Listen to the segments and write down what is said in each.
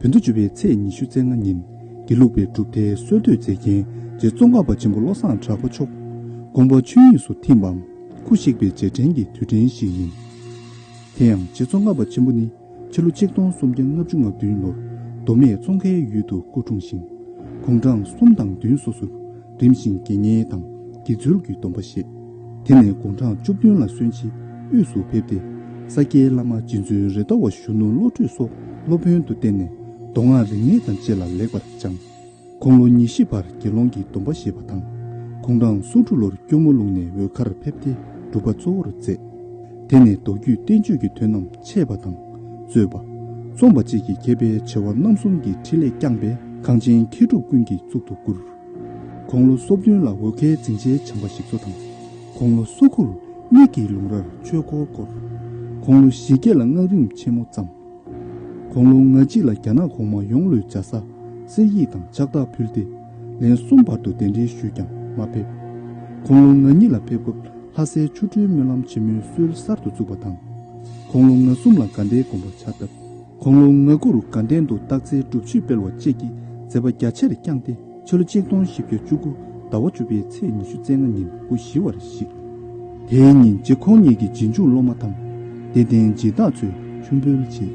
བོད་དུ་བྱོན་པའི་ཚེས་ཉི་ཤུ་ཚེས་ལྔ་ཉིན་དགེ་ལུགས་པའི་གྲུབ་མཐའི་སྲོལ་གཏོད་མཛད་མཁན་རྗེ་བཙོན་ཁང་པ་ཆེན་པོ་བློ་བཟང་གྲགས་པ་མཆོག་དགོངས་པ་ཆོས་དབྱིངས་སུ་ཐིམ་པའམ་སྐུ་གཤེགས་པའི་རྗེས་དྲན་གྱི་དུས་དྲན་ཞིག་ཡིན། དེ་ཡང་རྗེ་བཙོན་ཁང་པ་ཆེན་པོ་ནི་ཕྱི་ལོ་ཆིག་སྟོང་སུམ་བརྒྱ་ལྔ་བཅུ་ང་བདུན་ལོར་མདོ་སྨད་ཙོང་ཁའི་ཡུལ་དུ་སྐུ་འཁྲུངས་ཤིང། དགུང་གྲངས་གསུམ་དང་བདུན་སོ་སོར་རིམ་བཞིན་དགེ་བསྙེན་དང་དགེ་ཚུལ་གྱི་སྡོམ་པ་བཞེས། དེ་ནས་དགུང་གྲངས་བཅུ་བདུན་ལ་གསོན་ཕྱིར་དབུས་སུ་ཕེབས་ཏེ། ས་སྐྱའི་བླ་མ་རྗེ་བཙུན་རེ་དོ་བ་གཞོན་ནུ་བློ་གྲོས་སོགས་སློབ་དཔོན་དུ་བསྟེན་ནས་མདོ་སྔགས་རིག་གནས་དང་བཅས་ལ་ལེགས་པར་སྦྱངས། ཁོང་ལོ་ཉི་ཤི་བར་དགེ་སློང་གི་སྡོམ་པ་བཞེས་པ་དང། ཁོང་གྲངས་སུམ་དྲུག་ལོར་སྐྱོར་མོ་ལུང་ནས་འོལ་ཁར་ཕེབས་ཏེ་སྒྲུབ་པ་གཙོ་བོར་མཛད། དེ་ནས་མདོ་རྒྱུད་བསྟན་བཅོས་ཀྱི་དོན་རྣམས་འཆད་པ་དང། རྩོད་པ། རྩོམ་པ་བཅས་ཀྱི་མཁས་པའི་བྱེ་བ་རྣམ་གསུམ་གྱི་འཕྲིན་ལས་བསྐྱངས་པས་གངས་ཅན་མཁས་གྲུབ་ཀུན་གྱི་གཙུག་ཏུ་བཀུར། དགུང་ལོ་སོ་བདུན་ལ་འོལ་ཁའི་འཛིན་ཆའི་བྱམས་པ་ཞིག་གཙོ་དང། དགུང་ལོ་སོ་དགུར་མིག་གི་ལུང་རར་ཆོས་འཁོར་བསྐོར། དགུང་ལོ་བཞི་བརྒྱད་ལ་སྔགས་རིམ་ཆེན་མོ་བརྩམས། དགུང་ལོ་ང་གཅིག་ལ་རྒྱ་ནག་གོང་མ་ཡོངས་ལུས་འཇའ་ས་གསེར་ཡིག་དང་ཕྱག་རྟགས་ཕུལ་ཏེ། ལན་གསུམ་བར་དུ་གདན་འདྲེན་ཞུས་ཀྱང་མ་ཕེབས། དགུང་ལོ་ང་གཉིས་ལ་ཕེབས་སྐབས་ལྷ་སའི་ཆོ་འཕྲུལ་སྨོན་ལམ་ཆེན་མོའི་སྲོལ་གསར་དུ་བཙུགས་པ་དང། དགུང་ལོ་ང་གསུམ་ལ་དགའ་ལྡན་དགོངས་པ་ཕྱག་བཏབ། གོང་ལོ་ང་དགུ་རུ་དགའ་ལྡན་དུ་སྟག་རྩེའི་སྒྲུབ་མཆོད་སྤེལ་བ་བཅས་ཀྱི་མཛད་པ་རྒྱ་ཆེར་བསྐྱངས་ཏེ་ཕྱི་ལོ་གཅིག་སྟོང་བཞི་བརྒྱ་བཅུ་དགུ་ཟླ་བ་བཅུ་པའི་ཚེས་ཉི་ཤུ་རྩེ་ལྔ་ཉིན་སྐུ་བཞི་བར་གཤེགས། དེའི་ཉིན་རྗེ་ཁོང་ཉིད་ཀྱིས་རྗེས་འཇུག་སློབ་མ་དང། དད་ལྡན་སྦྱིན་བདག་ཚོས་མཆོད་འབུལ་བྱས།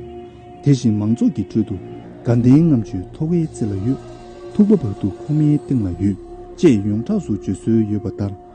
དེ་བཞིན་མང་ཚོགས་ཀྱི་ཁྲོད་དུ་དགའ་ལྡན་ངམ་ཆུའི་ཐོ་བའི་རྩེ་ལ་ཡོད། ཐུག་པ་བར་དུ་ཁོང་མའི་སྟེང་ལ་ཡོད། ཅེས་ཡོངས་གྲགས་སུ་བརྗོད་སྲོལ་ཡོད་པ་ལྟར།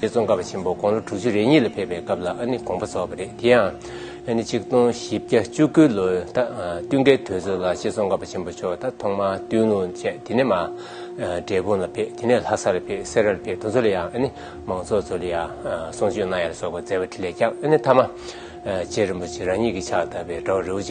རྗེ་ཙོང་ཁ་པ་ཆེན་པོ་དགུང་ལོ་དྲུག་ཅུ་རེ་གཉིས་ལ་ཕེབས་པའི་སྐབས་ལ་ནི་དགོངས་པ་རྫོགས་པ་རེད་དེ་ཡང་ནི་གཅིག་སྟོང་བཞི་བརྒྱ་བཅུ་དགུ་ལོའི་བསྟུན་ཁའི་དུས་ཚོད་ལ་རྗེ་ཙོང་ཁ་པ་ཆེན་པོ་མཆོག་ད་ཐོག་མར་ཏུན་ལུང་བཅས་དེ་ནས་འབྲས་སྤུངས་ལ་ཕེབས་དེ་ནས་ལྷ་སར་ཕེབས་སེ་ར་ལ་ཕེབས་དུ་མཚོ་ལ་ཡང་ནི་མང་ཚོགས་ཚོ་ལ་ཡང་གསུང་ཆོས་གནང་ཡ་ལ་སོགས་པ་མཛད་པ་ཁྲི་ལས་ཀྱང་ནི་ཐ་མ་རྗེ་རིན་པོ་ཆེ་རང་ཉིད་ཀྱི་ཕྱག་བཏབ་པའི་དགྲ་བོ་རི་བོ་ཆེ